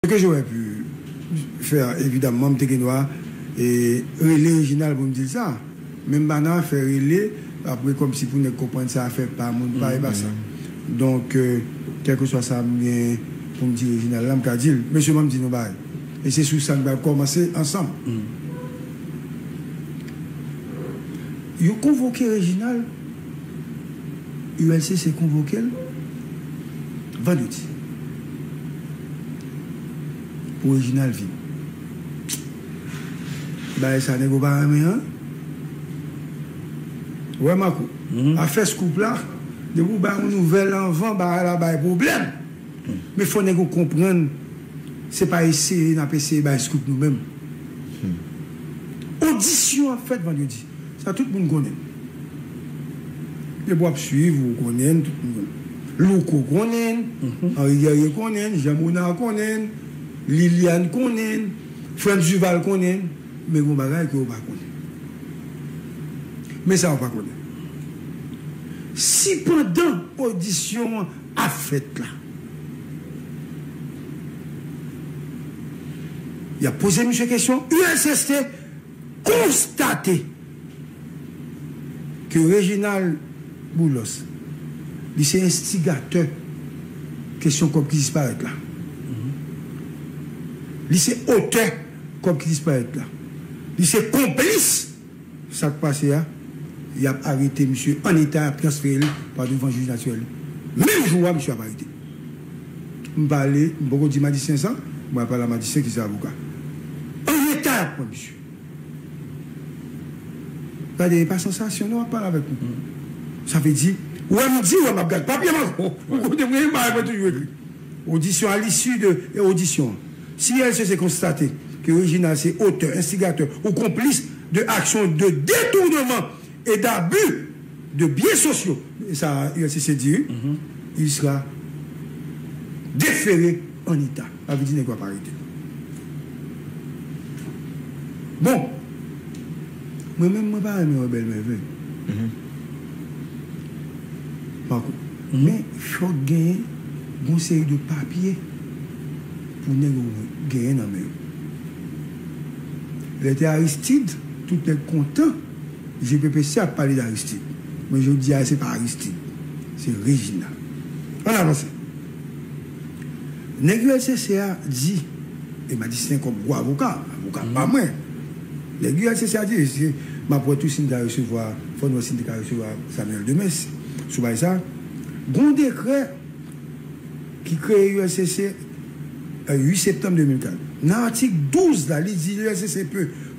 Ce que j'aurais pu faire evidemment m te gen dwa rele Reginald pou m di l sa men m pa nan afè rele apre kòmsi pou nèg konprann se afè pa moun pa e pa sa donk kèlkeswa sa m gen pou m di Reginald la m ka di l mesye ban m di n yon bagay e se sou sa n pral kòmanse ansanm yo konvoke Reginald ULCC konvoke l vandredi. Pou Reginald vin bay sa nego pa renmen an ou wè Marco afè scoop la depi ou bay yon nouvèl anvan bagay la bay pwoblèm men fò nego konprann se pa eseye nap eseye bay scoop nou menm odisyon ap fèt vandredi. Sa tout moun konnen. Depi wap swiv ou konnen tout moun konnen. Louko konnen, Henri Guerrier konnen, Jean Monard konnen, Liliane konnen, Frantz Duval konnen men gon bagay ke ou pa konnen. Men sa ou pa konnen. Si pandan odisyon an ap fèt la yap poze misye kesyon usst. konstate ke Reginald Boulos li se enstigatè kesyon kòb ki disparèt la. Li se otè kòb ki disparèt la. Li se konplis sa k pase a. Y ap arete misye an eta, y ap transfere l pa douvan jij natirèl. Menm jou a, misye ap arete. M pale, m poko di majisyen sa, mwen ap pale a majisyen ki se avoka. An reta yap pran misye. Gade e pa sansasyon non wap pale avèk m. Sa vle di, ou wè m di ou wè map gad papye m ankò. Ou kote mwen ye m bagay mwen toujou ekri. Odisyon a lisi de odisyon an. Si LCC konstate ke Reginald se otè, enstigatè ou konplis de aksyon de detournement. et d'abus de biens sociaux, e sa ULCC di wi, il sera defere an eta. Sa vle di nèg yo ap arete. Bon, mwen menm mwen pa renmen wè bèl mèvèy Marco, men fòk genyen yon seri de papye pou nèg yo genyen nan men yo. Lè te Aristide, tout nèg kontan. Mesye Pepe Sè ap pale d'Aristid, men jodi a se pa Aristid, se Reginald. Ann avanse. Nèg ULCC a di, e m a di se kòm gwo avoka, avoka pa mwen, nèg ULCC a di, mesye, m ap wè tou si m ka resevwa, fò n wè si n te ka resevwa Samuel Demes sou bagay sa, gon dekrè ki kreye ULCC 8 septanm 2004. Nan atik 12 la, li di ULCC pe.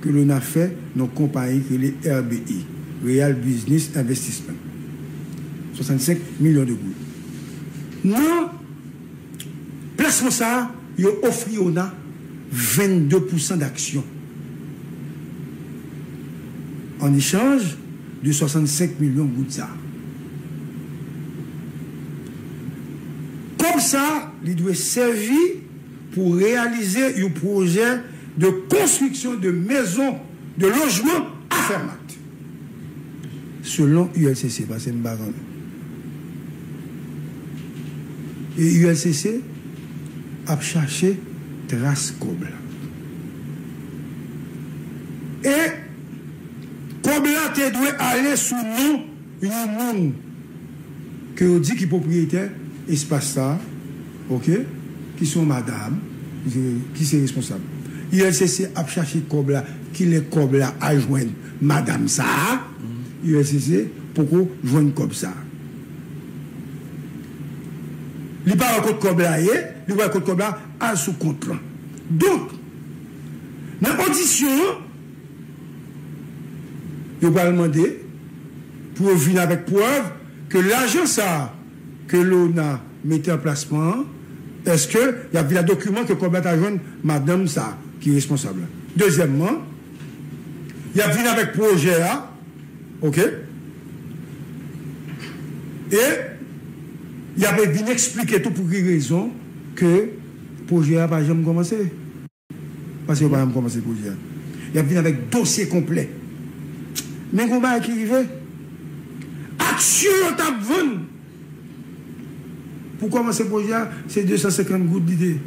ke Lona fè nan konpayi ki rele RBI, Real Business Investissement, 65 milyon de goud. Nan plasman sa a, yo ofri Lona 22 pousan daksyon an echanj de 65 milyon goud sa a. Kòb sa a, li dwe sèvi. pou reyalize yon pwojè de konstriksyon de mezon de lojman a Fermat. Selon ULCC, pase m pa konnen. E ULCC ap chache tras kòb la. E kòb la te dwe ale sou non yon moun. ke yo di ki pwopriyetè espas sa a, ok, ki se yon madam, ki se responsab. ULCC ap chache kòb la, kilè kòb la a jwenn madam sa a? ULCC poko jwenn kòb sa a. Li pa wè kot kòb la ye, li wè kot kòb la al sou kont lan. Donk, nan odisyon an. Yo pral mande pou yo vin avèk prèv ke lajan sa ke Leona mete an plasman an, eske y ap vin ak dokiman ke kòb la ta jwenn madanm sa ki responsab la. Dezyèmman, y ap vin avèk pwojè a, oke, e y ap vin eksplike tou pou ki rezon ke pwojè a pa janm kòmanse. Paske yo pa janm kòmanse pwojè a. Yap vin avèk dosye konplè. Men gon bagay ki rive, aksyon yo tap vann pou kòmanse pwojè a, se 250 goud li te ye.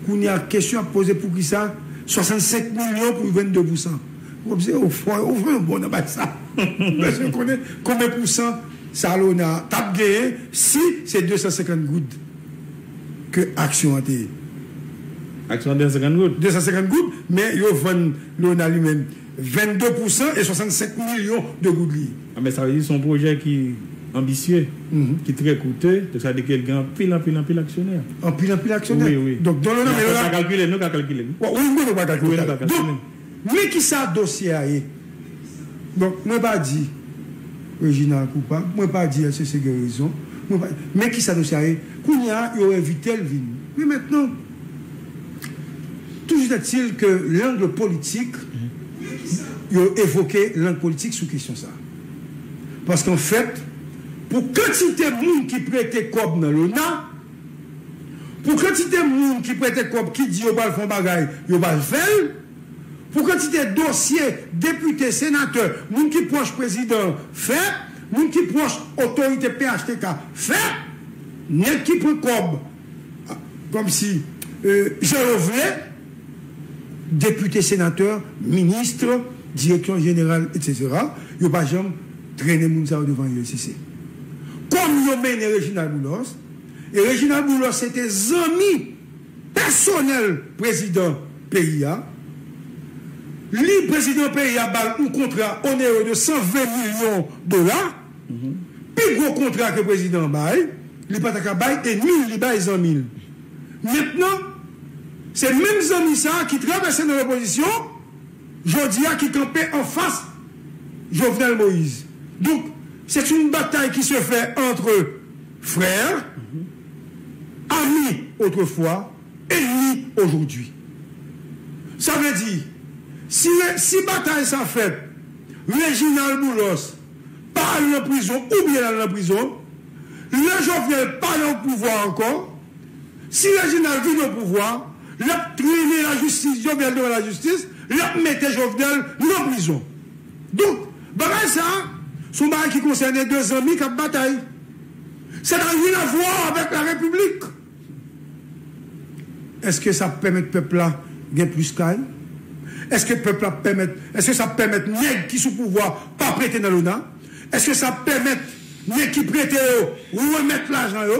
Kounya kesyon ap poze poukisa 65 milyon pou 22 pousan. Ou wè se ou fò, ou fò nou bon nan bagay sa. Nou bezwen konnen konbyen pousan Salona tap genyen si se 250 goud. ke aksyon an te ye. Aksyon an 250 goud? 250 goud, men yo vann Leonard li menm 22 pou 100 e 65 milyon de goud li ye. A men sa vle di se yon pwojè ki anbisye, ki trè koute, donk sa vle di ke l gen anpil, anpil, anpil aksyonè. Anpil, anpil aksyonè? Wi, wi. Donk Don Leonard. Mwen pa kalkile, nou ka kalkile wi. Wi, mwen pa kalkile. Donk. Men kisa dosye a ye. Bon, mwen pa di Reginald koupab, mwen pa di LCC gen rezon, mwen pa di, men kisa dosye a ye. Kounye a, yo envite l vin. Men mentnan, toujou èt-il ke langle politik, yo evoke lang politik sou kesyon sa a. Paske anfèt, pou kantite moun ki prete kòb nan Lona, Pou kantite moun ki prete kòb ki di yo pral fè yon bagay, yo pral fè l. Pou kantite dosye depite, senatè, moun ki pwòch prezidan an fè, moun ki pwòch otorite phtk fè. Nèg ki pran kòb kòmsi jan yo vle, depite, senatè, minist, direksyon jeneral etc. Yo pa janm trennen moun sa yo devan uscis. Kòm yo mennen Reginald Boulos. E Reginald Boulos se te zanmi pèsonèl prezidan peyi a. Li, prezidan peyi a ba l yon kontra onere de 120 milyon dola, pi gwo kontra ke prezidan an bay, li pa ta ka bay enmi l, li bay zanmi l. Mentnan, se menm zanmi sa a ki travèse nan lopozisyon, jodi a ki kanpe anfas Jovenel Moïse. Donk, se t yon batay ki se fè antre. Frère, ami autrefois, ennemi aujourd'hui. Sa vle di, si re, si batay sa fèt, Reginald Boulos pa al nan prizon oubyen l al nan prizon, lè Jovenel pa nan opouvwa ankò, si Reginald vin opouvwa, l ap trennen lajistis Jovenel devan lajistis, l ap mete Jovenel nan prizon. Donk, bagay sa, s on bagay ki konsène 2 zanmi k ap batay. Sa n'a rien à voir avec la République! Eske sa ap pèmèt pèp la gen plis kay? Eske pèp la ap pèmèt, eske sa ap pèmèt nèg ki sou pouvwa pa prete nan lona? Eske sa ap pèmèt nèg ki prete yo remèt lajan yo?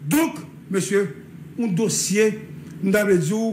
Donk, mesye, yon dosye, m ta vle di w,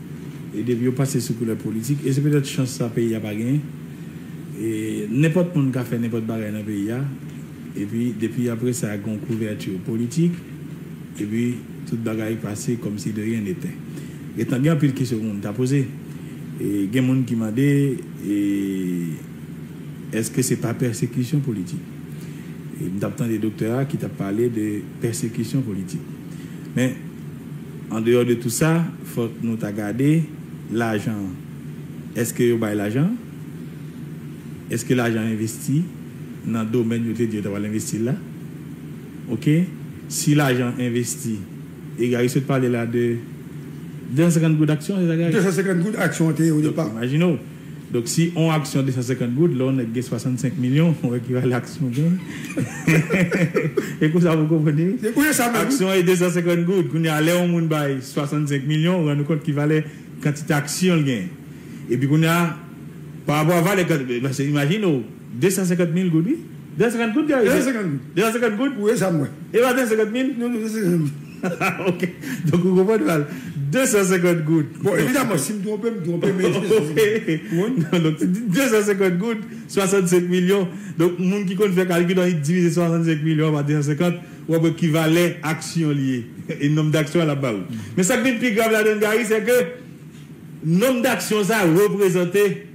E depi yo pase sou koulè politik, e se petèt chans sa peyi a pa genyen, e nenpòt moun ka fè nenpòt bagay nan peyi a, epi depi apre sa gen yon kouvèti politik, epi tout bagay pase kòm si de ryen netè. Gen tan gen anpil kesyon moun ta poze. E gen moun ki mande, e èske se pa pèsekisyon politik? E m t ap tande doktè a ki t ap pale de pèsekisyon politik. Men. Andeyò de tou sa, fòk nou ta gade lajan an. Èske yo bay lajan an? Èske lajan an envesti nan domèn yo te di yo ta pral envesti l la? Ok, si lajan an envesti, e Gary sot pale la de 250 goud aksyon, se sa Gary? 250 goud aksyon an te ye odepa. Donk imajine w. Donk si on aksyon 250 goud, lè on nèg gen 65 milyon, on wè ki valè aksyon gen. E konsa pou konprann e. Se kounye sa menm. Aksyon e 250 goud. Kounye a lè on moun bay 65 milyon, ou rann ou kont ki valè kantite aksyon l gen. E pi kounye a, pa rapò a valè kant, pase imajine ou, 250 mil goud wi. 250 goud Gary? 250 goud. 250 goud? Kounye sa m wè. E pa 250 mil? Non non 250 mil. Haha ok donk ou konprann val 250 goud Bon evidaman sim twonpe m twonpe men se sa ok non donk 250 goud 65 milyon donk moun ki konn fè kalkil an li divize 65 milyon an pa 250 wap wè ki valè aksyon li ye e nonb daksyon an lap ba ou men sak vin pi grav ladann Gary sèke nonb daksyon sa reprezante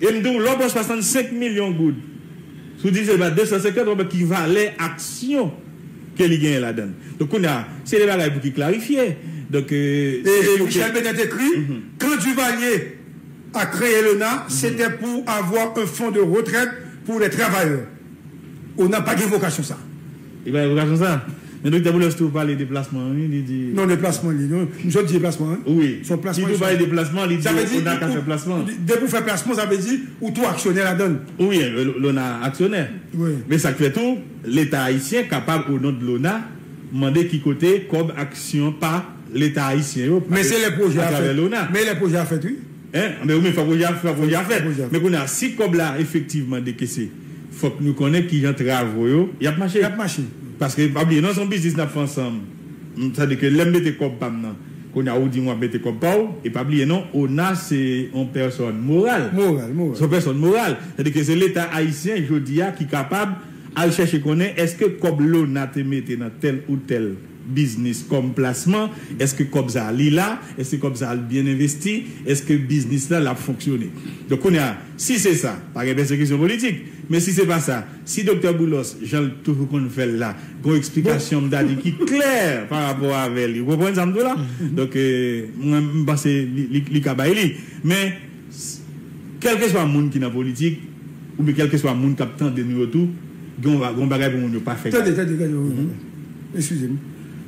E m di w, lè w pran 65 milyon goud sou divize l pa 250, w ap wè ki valè aksyon ke li genyen ladan l. Donk kounye a, se de bagay pou ki klarifye. Donk, se pou ke. Michel Benet écrit, Quand Duvalier a crée l'ONA, c'était pour avoir un fonds de retraite pour les travailleurs. ONA pa gen vokasyon sa. Li pa revokasyon sa? Men Doktè Boulos tou pale deplasman wi, li di. Non deplasman li ye non, misye di deplasman wi. Wi, li tou pale deplasman, li di ona ka fè plasman. Depi ou fè plasman sa vle di ou tou aksyonè ladan l. Wi, lona aksyonè. Men sa k fè tou, leta ayisyen kapab o non de lona mande ki kote kòb aksyon pa leta ayisyen yo pase atravè lona. Men lè pwojè a fèt wi. Hein anben wi men fwa pwojè a fwa pwojè a fèt men kounye a si kòb la efektivman dekese fòk nou konnen kijan travo yo yap mache paske pa bliye non son biznis nap fè ansanm m sa di ke lèm mete kòb pam nan kounye a ou dim wap mete kòb paw e pa bliye non ona se on pèsòn moral son pèsòn moral sa di ke se leta ayisyen jodi a ki kapab al chèche konnen eske kòb lona te mete nan tèl ou tèl biznis kòm plasman, èske kòb sa a li la, èske kòb sa a li byen envesti, èske biznis la lap fonksyone. Donk kounye a, si se sa, pa gen pèsekisyon politik. Men si se pa sa, si Doktè Boulos, jan l toujou konn fè l la, gen yon eksplikasyon m ta di ki klè parapò avè li. Ou konprann sa m di w la? Donk mwen m panse li ka bay li. Men. Kèlkeswa moun ki nan politik oubyen kèlkeswa moun k ap tande nou yo tou, gen yon bagay pou moun yo pa fè gade. Tande, tande, tande, tande, tande. Eskize m.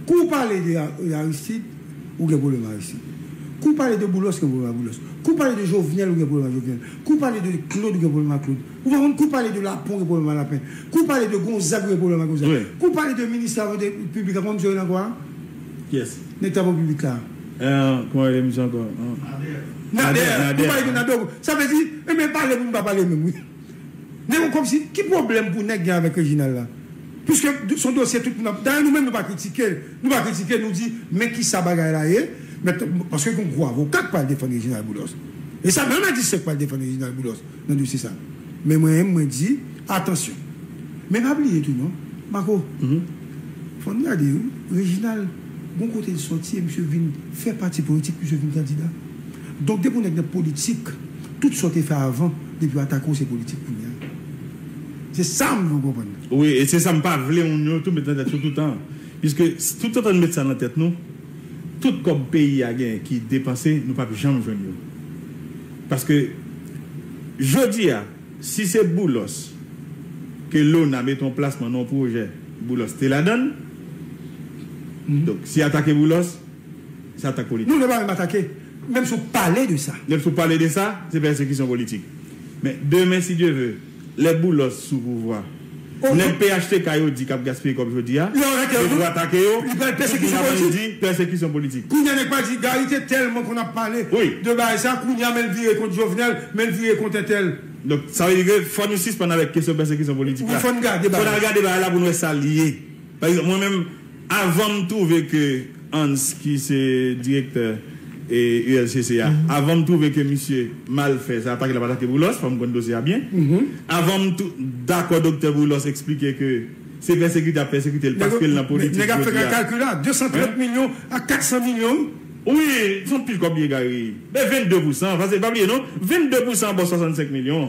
Kou w pale de Aristide, ou gen pwoblèm ak Aristide. Kou w pale de Boulos, ou gen pwoblèm ak Boulos. Kou w pale de Jovenel, ou gen pwoblèm ak Jovenel. Kou w pale de Claude, ou gen pwoblèm ak Claude. Ou konprann? Kou w pale de Lapin, ou gen pwoblèm ak Lapin. Kou w pale de Gonzague, ou gen pwoblèm ak Gonzague. Kou w pale de Minis Travaux Publics la, konprann m sou rele ankò a? Yes. Nèg tap an piblik la. Ean kman rele misye ankò an. Nader Nader Nader wi Nader sa vle di ebyen pale pou nou pa pale menm wi Nèg komsi ki pwoblèm pou nèg gen avèk Reginald la piske son dosye tout moun ap dayè nou menm nou pa kritike l nou pa kritike l nou di men kisa bagay la ye men paske gon gwo avoka k pral defann Reginald Boulos e sa menm Adi Sèk pral defann Reginald Boulos nan dosye sa. Men mwen menm mwen di atansyon. Men pa bliye tou non Marco fò n gade wi Reginald gon kote l sòti e misye vin fè pati politik misye vin kandida. Donk depi yon nèg nan politik tout sa w te fè avan depi yo atake w se politik kounya. Se sa m vle w konprann nan. Wi e se sa m pa vle moun yo tou met nan tèt yo toutan an. Piske toutotan n met sa nan tèt nou tout kòb peyi a genyen ki depanse nou p ap janm jwenn yo. Paske Jodi a si se Boulos ke Lona mete an plas pandan yon pwojè Boulos te ladan l donk si atake Boulos se atak politik. Non se pa menm atake menm si w pale de sa. Menm si w pale de sa se pèsekisyon politik men demen si Dye ve. Lè Boulos sou pouvwa. Nèg phtk yo di kap gaspiye kòb jodi a, yo pou atake yo, tout moun ap vin di pèsekisyon politik. Kounya nèg pa di Gary te tèlman konn ap pale de bagay sa, kounya menl vire kont Jovenel, menl vire kont entèl. Donk sa vle di ke fò nou sispann avèk kesyon pèsekisyon politik la. Fò n al gade bagay la pou n wè sa l ye. Pa egzanp mwen menm. Avan m twouve ke Hans ki se direktè ULCC a, avan m twouve ke misye mal fè sa, atake l ap atake Boulos, fò m konn dosye a byen, avan m dakò doktè Boulos eksplike ke se pèsekite y ap pèsekite l paske l nan politik jodi a. Nèg ap fè ka kalkil la, 230 milyon ak 400 milyon wi. Wi, son pil kòb li egare. Men 22 pousan, paske pa bliye non, 22 pousan bò 65 milyon.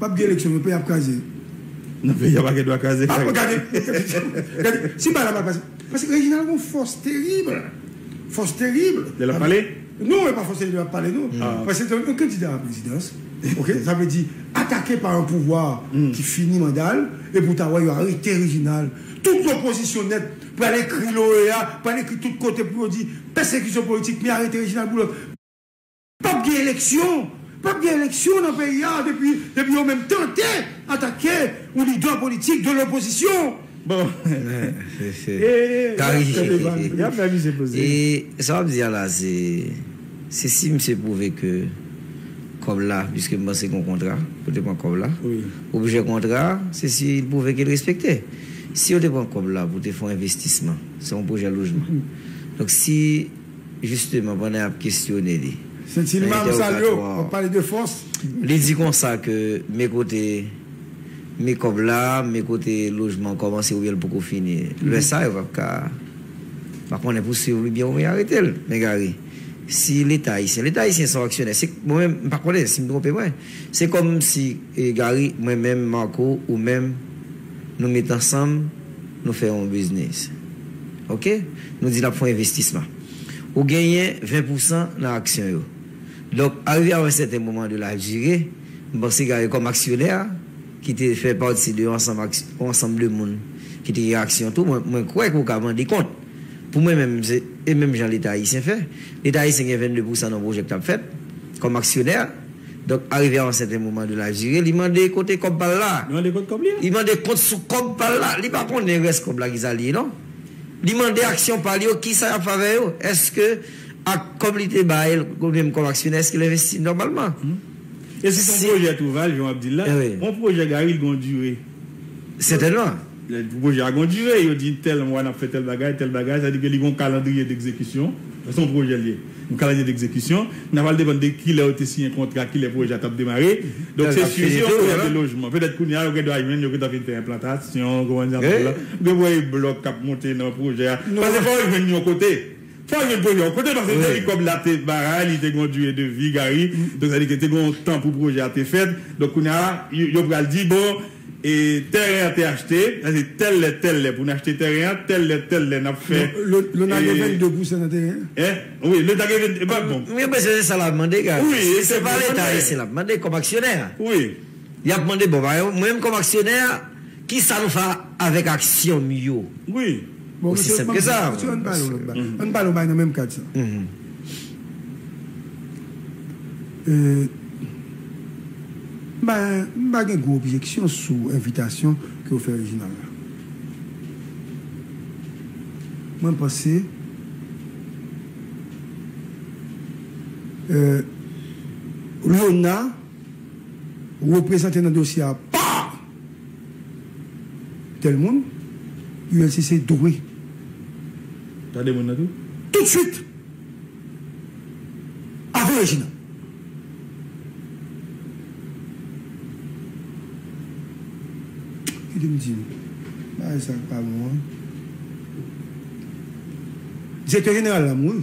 Pap gen eleksyon non peyi ap kraze. Non peyi a pa gen dwa kraze frè. Aah gade gade si bagay la pa pase paske Reginald gon fòs terib fòs terib. Lè lap pale? Non e pa fòs terib lap pale non paske se yon kandida a la prezidans ok sa vle di atake pa yon pouvwa ki fini manda l epi ou ta wè yo arete Reginald tout lopozisyon nèt pral ekri l OEA pral ekri tout kote pou yo di pèsekisyon politik men arete Reginald Boulos. Pap gen eleksyon! Pap gen eleksyon nan peyi a depi depi yo menm tante atake yon lidè politik de lopozisyon! Bon! Gary! Yap fè misye poze! E sa wap di a la se se si misye pwouve ke kòb la piske m panse gon kontra pou te pran kòb la. Objè kontra a se si li pwouve ke l respekte. Si yo te pran kòb la pou te fon envestisman se yon pwojè lojman. Donk si. Jisteman, pandan y ap kesyone li nan entèwokatwa an, li di konsa ke me kote me kòb la, me kote lojman an kòmanse oubyen l poko fini. Lè sa yo pa p ka, pa konnen pouswiv li byen oubyen arete l. Men Gary, si Leta ayisyen, Leta ayisyen se yon aksyonè, se, mwen menm, m pa konnen, si m twonpe mwen, se kòm si, Gary, mwen menm, Marco, ou menm, nou met ansanm, nou fè yon biznis. Ok, nou di n ap fè yon envestisman. Ou genyen 20 pousan nan aksyon yo. Donk, arive a yon sèten moman de la dire, m panse Gary kòm aksyonè, ki te fè pati de yon ansanm ak yon ansanm de moun ki te gen aksyon tou, mwen mwen kwè ke ou ka mande kont. Pou mwen menm, se e menm jan Leta ayisyen fè. Leta ayisyen gen 22 pousan nan yon pwojè k t ap fèt, kòm aksyonè. Donk arive a yon sèten moman de la jire li mande kote kòb pa l la. Li mande kot kòb li a. Li mande kont sou kòb pa l la. Li pa konnen rès kòb la ki sa li ye non. Li mande aksyon pa l yo ki sa y ap fè avè yo. Èske ak kòb li te bay l ou byen kòm aksyonè èske l envesti nòmalman. E si s on pwojè Touval jan w ap di l la. On pwojè Gary li gen yon dire. Sètènman. Lè pwojè a gen yon dire, yo di tèl mwa n ap fè tèl bagay, tèl bagay, sa vle di ke li gen yon kalandriye degzekisyon, se yon pwojè li ye, yon kalandriye degzekisyon, men sa pral depann de ki lè yo te siyen kontra, ki lè pwojè a t ap demare. Donk se si se yon pwojè de lojman, petèt kounye a yo gen dwa jwenn, yo gen tan fin fè enplantasyon, ou konprann sa m di w la, ou gen pou wè e blòk k ap monte nan pwojè a, paske fò yo jwenn yon kote. Fòk gen pwojè. Kote pase se li kòb la te baray, li te gen yon dure de vi Gary, donk sa vle di ke te gen yon tan pou pwojè a te fèt, donk kounye a yo pral di bon tèren an te achte, sa se tèl lè tèl lè pou n achte tèren an, tèl lè tèl lè n ap fè. Lona gen 22 pousan nan tèren an? Hein? Wi, leta gen 22 Epa bon. Mwen panse se sa l ap mande Gary. Wi, se pa leta ayisyen l ap mande kòm aksyonè a. Wi. Y ap mande bon bagay. Mwen menm kòm aksyonè, ki sa nou fè avèk aksyon m yo? Wi. Bon, mesye, m ap di nou, mesye, ann pale yon lòt bagay. Ann pale yon bagay nan menm kad sa. M pa gen gwo objeksyon sou envitasyon ke ou fè Reginald la. Mwen panse Léonard. reprezante nan dosye a pa tèl moun, ULCC dwe tande moun nan tou toutsuit avan yo jina. Kite m di nou bagay sa k pa bon an. Direktè Jeneral la mouri.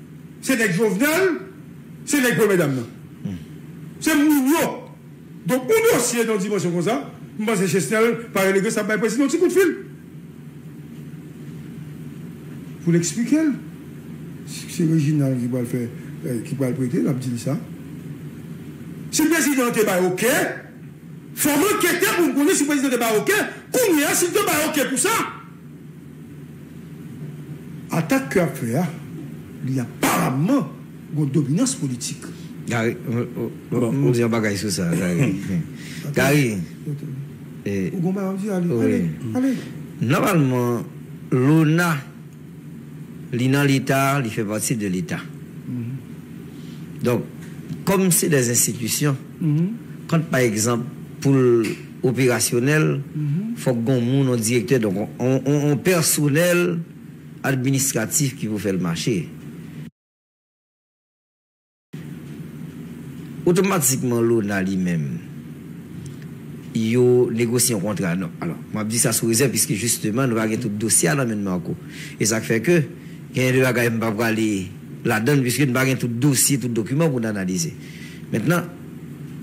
Se nèg Jovenel, se nèg premyè dam nan. Se moun yo. Donk yon dosye nan dimansyon konsa, m panse Chesnel pa rele Gessap bay prezidan yon ti kout fil pou l eksplike l. Si se Reginald ki pral fè, ki pral prete, l ap di l sa. Si prezidan an te bay oke, fò m ankete pou m konnen si prezidan te bay oke, kounye a si l te bay oke pou sa. Atak ke ap fè a, li aparamman gon dominans politik. Gary, m di yon bagay sou sa, Gary. Gary, e. Ou gon bagay wap di, ale, ale, ale. Nòmalman, Lona, li nan leta, li fè pati de leta. Donk, kòm se dè enstitisyon, kant pa egzanp pou l. operasyonèl, fòk gon moun, on direktè, donk on, on pèsonèl administratif ki pou fè l mache. Otomatikman lona li menm, yo negosye on kontra, non, alò, m ap di sa sou rezèv piske jisteman nou pa gen tout dosye a nan men n Marco. E sa k fè ke genyen de bagay m pa prale ladan l piske n pa gen tout dosye, tout dokiman pou n analize. Mentnan.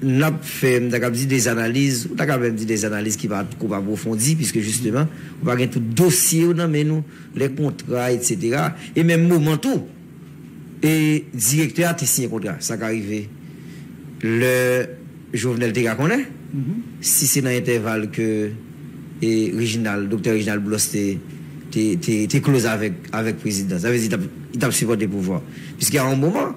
n ap fè, m ta kab di des analiz, ou ta ka menm di des analiz ki pa twop apwofondi, piske jisteman, ou pa gen tout dosye yo nan men nou, lè kontra etsetera, e menm moman tou, e direktè a te siyen kontra, sa ka rive, lè Jovenel te ka konnen, si se nan entèval ke e Reginald, Doktè Reginald Boulos te, te, te, te kloz avèk, avèk prezidan, sa vle di li t ap, li t ap sipòte pouvwa, piske a yon moman.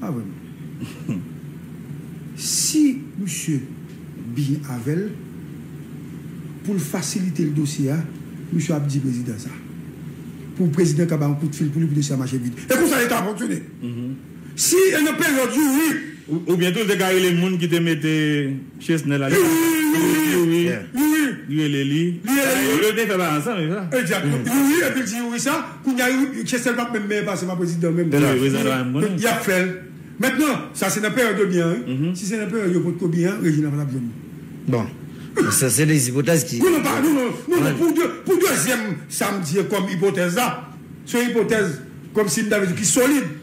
Pa vre non. Si misye byen avèl poul fasilitel dosye a misye ap di prezidan sa. Pou prezidan ka ba yon kout fil pou li pou dosye a mache vit. E konsa leta ap fonksyone. Si e nan peryòd youri. Oubyen tou li te ka rele moun ki te mete. Chesnel ale nan Youri li rele li yo te fè bagay ansanm se sa? Exactement Youri epi l di Youri sa kounya Youri Chesnel pap menm mèyè pase m a prezidan menm non yap fè l mentnan sa se nan peryòd yo byen an wi si se nan peryòd yo potko byen an Reginald pa tap jwenn li. Bon sa se 2 ipotèz ki. Non non pa non non pou dezyèm sa m di an kòm ipotèz la se yon ipotèz kòmsi m ta vle di ki solid.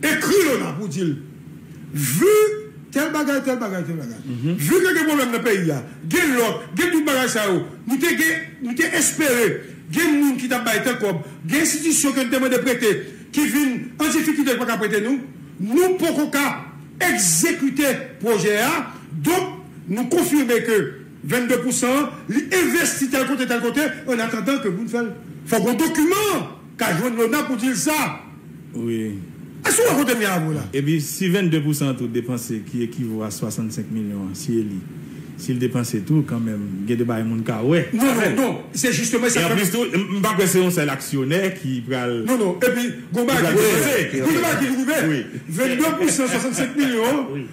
Ekri yo la pou w di l, Vu tèl bagay, tèl bagay, tèl bagay, vu ke gen pwoblèm nan peyi a, gen lòk, gen tout bagay sa yo, nou te gen, nou te espere gen moun ki t ap bay tèl kòb, gen enstitisyon ke n te mande prete ki vin an difikilte ki pa ka prete nou, nou poko ka egzekite pwojè a, donk nou konfime ke 22 pou san an li envesti tèl kote, tèl kote, annatandan ke pou n fè l. Fòk yon dokiman ka jwenn Lona pou di l sa. wi. Èske ou wè kote m ye avw la? Epi si 22 pousan tou depanse ki ekivo a 65 milyon an si eli si l depanse tou kanmenm gen de bagay moun ka wè. Non non non se jisteman e sa k fè m. E anplis tou m pa kwè se yon sèl aksyonè ki pral. Non non epi gon bagay ki rive wi wi 22 pousan 65 milyon an.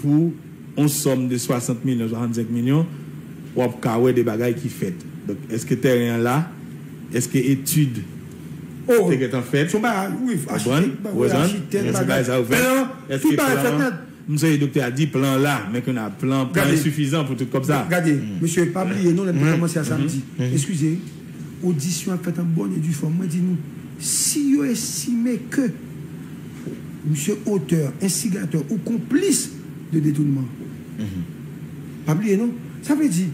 pou on sòm de 60 milyon, 65 milyon, wap ka wè de bagay ki fèt. Donk, eske tèren an la? Eske etid te gentan fèt? Ou konprann? Ou konprann? Eske bagay sa yo fèt? Eske plan an? M sonje doktè a di plan an la, men kounye a plan an, plan an ensifizan pou tout kòb sa. Gade, mesye, pa bliye non, lè n te kòmanse a samdi. Eskize. Odisyon ap fèt an bòn e di fòm. Mwen di nou, si yo estime ke misye otè, enstigatè ou konplis de detounman, pa bliye non, sa vle di,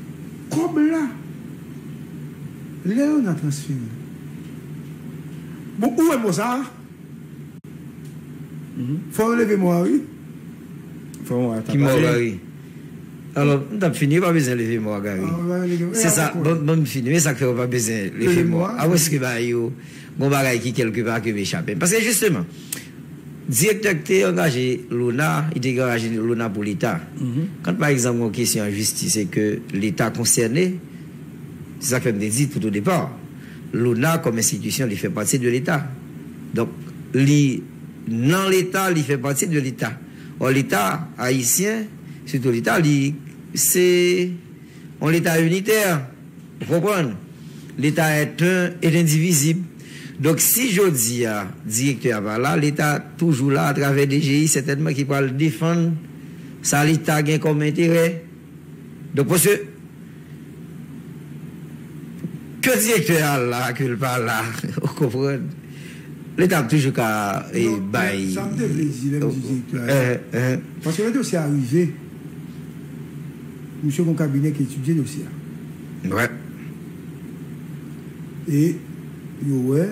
kòb la, lè ona transfere l, bon, ou wè mò sa a? Fò yo leve mò a wi. Fò mò a ta pale. Ki mò a wi? Alò, m tap fini, yo pa bezwen leve mò a Gary. Se sa, ban m fini, men sa k fè yo pa bezwen leve mò a? A wè si ke ba yo gon bagay ki kèlke pa ke m echape? Paske jisteman, direktè k te angaje Lona, li te angaje Lona pou leta. Kan pa egzanp gon kesyon an jistis e ke leta konsène, se sa k fè m te di tout o depa, Lona kòm enstitisyon li fè pati de leta. Donk, li nan leta, li fè pati de leta. Ò leta ayisyen, sitou leta li, se yon leta initè, ou konprann? Leta est un et indivisible. Donk si jodi a direktè a pa la, leta toujou la atravè DGI sètènman ki pral defann sa leta gen kòm enterè. Donk mesye ke direktè a al la ke l pa al la ou konprann leta ap toujou ka bay. Non, sa m te vle di lè m di direktè a al la paske lè dosye a rive misye gon kabinè ki etidye dosye a. Vre. E yo wè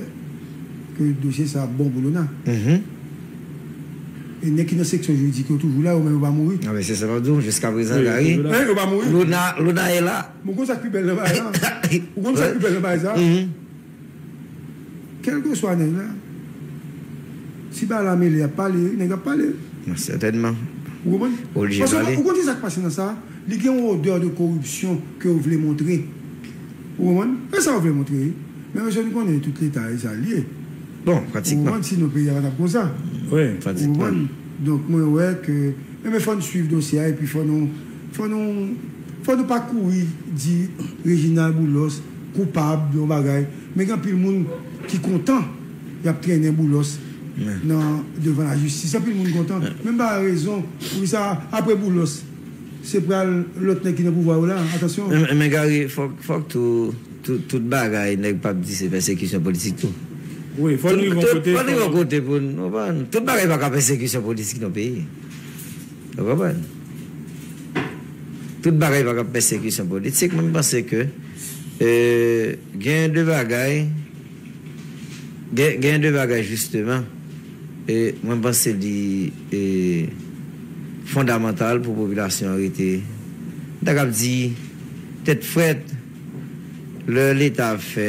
ke dosye sa ap bon pou Lona. E nèg ki nan seksyon jiridik yo toujou la, yo menm yo pa mouri? Nan men se sa map di w jiska prezan Gary, Luna, Luna e la. Bon ou konn sak pi bèl nan bagay sa? Ou konn sak pi bèl nan bagay sa? Kèlkeswa nèg la, si bagay la mele yap pale wi, nèg ap pale wi. Nan sètènman. Ou konprann? Oblije pale. Paske ou konn kisak pase nan sa? Li gen yon odè de koripsyon ke yo vle montre. Ou konprann? E sa yo vle montre wi. Men mesye nou konnen tout leta e sa l ye. Bon, pratikman. Ou konprann si nou peyi a pa tap konsa. Wi, pratikman. Ou konprann? Donk mwen wè ke Enben fò nou swiv dosye a epi fò nou fò nou fò nou pa kouri di Reginald Boulos koupab yon bagay men gen anpil moun ki kontan yap trennen Boulos nan devan lajistis anpil moun kontan men m pa wè rezon poukisa apre Boulos se pral lòt nèg ki nan pouvwa yo la atansyon. Men Gary fòk fòk tou. Tout bagay nèg pap di se pèsekisyon politik tou. Wi fò n rive yon kote. Fò n rive yon kote pou n konprann. Tout bagay pa ka pèsekisyon politik nan peyi. Ou konprann? Tout bagay pa ka pèsekisyon politik. Mwen panse ke gen de bagay. Gen de bagay jisteman mwen panse li fondamantal pou popilasyon an rete, m ta kab di tèt frèt lè leta ap fè.